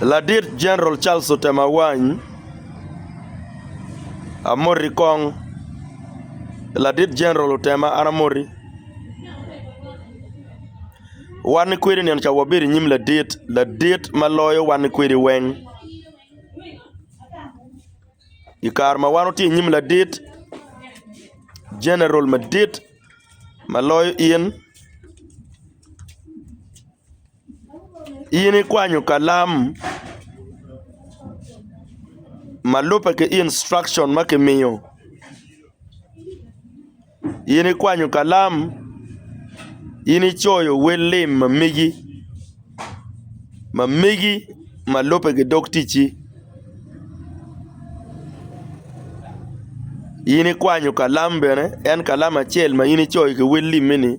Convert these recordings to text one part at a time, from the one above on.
Ladit Jeneral Charles otemo awany amoti kong, ladit Jeneral otema an amoti. Wan ki kwede nino ca wabedo i nyim ladit, ladit ma loyo wan ki kwedi weng. I kare ma wan watye i nyim ladit, Jeneral madit ma loyo in. In ikwanyo kalam ma lubbe ki instruction ma kimiyo? In ikwanyo kalam? In icoyo wel lim ma megi ma megi ma lubbe ki dog ticci? In ikwanyo kalam bene en kalam acel ma in icoyo ki wel limmi-ni?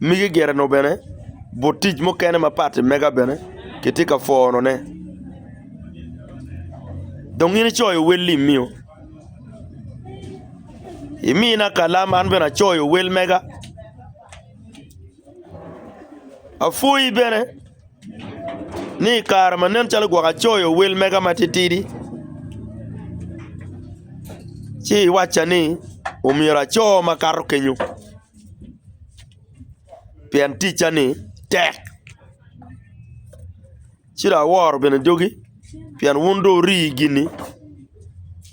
Mege gire-nu bene but tic mukene ma pati mega bene kitye ka pwonone. Dong in icoyo wel imio? Imina kalam an bene acoyo wel mega. Apwoyi bene. ni i kare ma nen calo gwok acoyo wel mega matitidi ci iwacca ni omyero aco makato kenyo pien ticca ni tek ci dong aworo bene dogi pien wun dong wuri gini.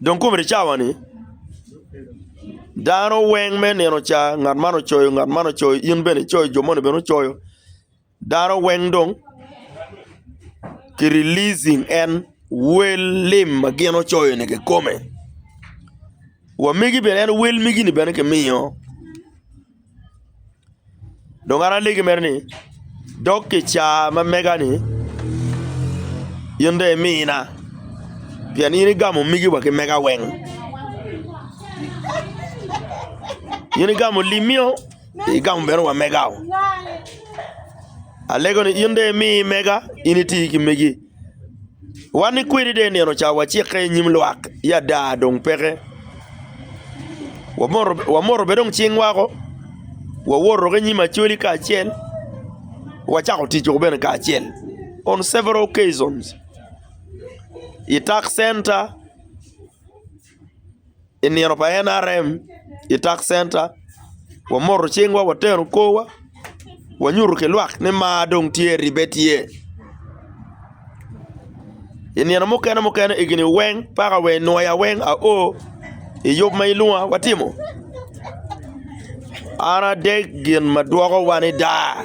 Dong komedi cawa ni dano weng me nino ca ngat man ocoyo ngat man ocoyo in bene icoyo jo moni bene gucoyo dano weng dong ki releasing en wel lim ma gin ocoyo ni kikome wa megi bene en wel megi ni bene kimiyo Dong an alegi mere ni dok ki i caa ma mega-ni in dong imina pien in igamo migiwa ki mega weng in igamo limio igamo bene wa megao alego ni in dong imi mega in iti ki megi. Wan ni kwedi dong i nino ca wacikke i nyim lwak ya ada dong peke. Wamoto bene dong cing wako, wawoto ki nyim Acholi kacel, wacako tic woko bene kacel on several occasions i tax center. i nino pa NRM i tak centa wamoto cingwa wateno korwa wanyuto ki lwak ni mar dong tye ribbe tye i nino mukene mukene egini weng paka wa nwoya weng ao i yub ma ilwonga watimo an adek gin ma dwokowa ni daa.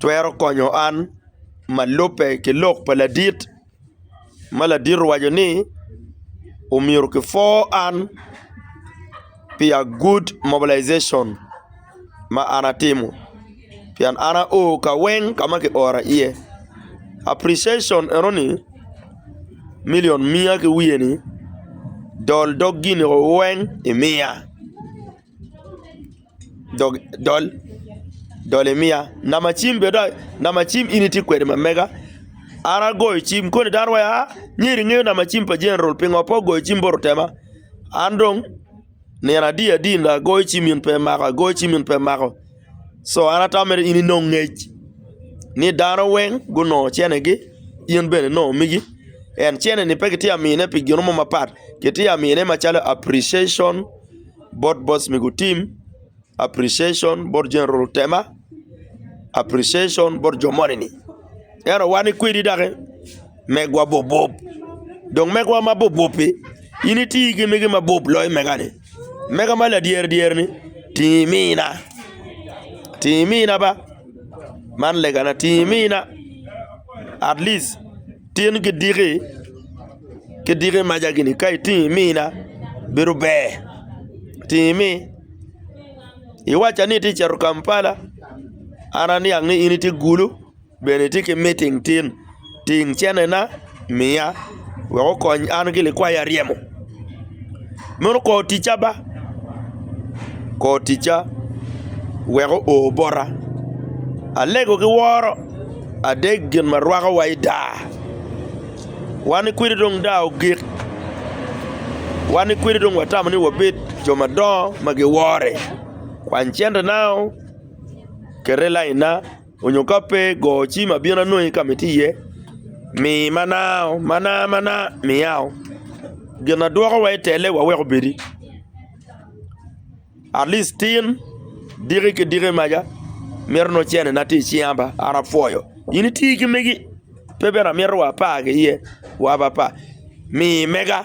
twero konyo an ma lubbe ki lok pa ladit ma ladit owaco ni omyero kipwor an pi a good mobilization ma an atimo pien an ao ka weng ka ma kiora iye appriciation enoni million miya ki wiye ni dol dog gin weng imiya. dog dol dol imiya namba cim bene dong namba cim in itye kwede ma mega an agoyo cim koni dano wai aa myero inge namba cim pa general pingo pe ogoyo cim bot otema an dong nino adi adi dong agoyo cim in pe imako agoyo cim in pe imako co an atamo mere in inong ngec ni dano weng gunongo cene gi in bene inongo migi en cene ni pe kitye ka mine pi gin mo mapat kitye ka mine macalo appreciation bot boss me gutim appreciation bot jami oruru tema appreciation bot jo moni ni ento wan ikwedi doki megwa bobwob dong megwa ma bobwob pi in iti ki mege ma bwob loyo mega ni mega ma ladyeri dyeri ni tingi imina tingi imina ba man legana tingi imina atleast Tin ki diki, ki diki maca gini ka itingo imina bedo ber itingo imi. Iwaca ni itye ka cito Kampala an aniang ni in itye Gulu bene itye ki miting tin, ting cenena miya wek okony an ki likwayi aryemo. Mono kor ticca ba, kor ticca weko o bota, alego ki woro adek gin ma rwako wa i daa, wan ni kwidi dong daa ogik, wan ni kwidi dong watamo ni wabed jo madongo ma giwore, kwany cente nao kete lainna. Onyo ka pe, go ci ma bin anongi ka ma itye iye. Mi mana o, mana, mana, miya o. Gin ma dwoko wa i tele wa wek obedi. At least tin, diki ki diki maca, mito nongo cene na tye i cinga ba, an apwoyo. In iti ki megi, pe bene amito wa apar ki iye, wa apa apa. Mi mega.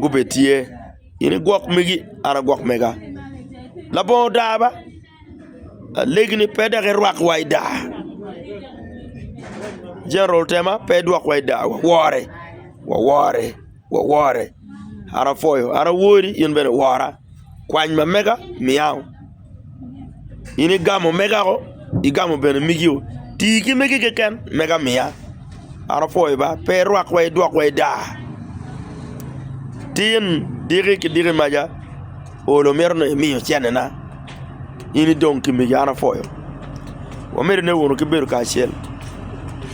gubed tye, in i gwok megi an agwok mega. Labongo odaa ba, lageni pe dok irwak wa i daa, General Tema pe idwok wa i daa wawore, wawore, wawore. An apwoyo, an awori in bene wora, kwany ma mega miya. In igamo omegako, igamo bene migio. Ti ki megi keken mega miya. An apwoyi ba, pe irwak wa idwok wa ida. Tin diki ki diki maca olo mito ni imiyo cene na, in idong ki megi an apwoyo. Wamedone wunu ki bedo kacel.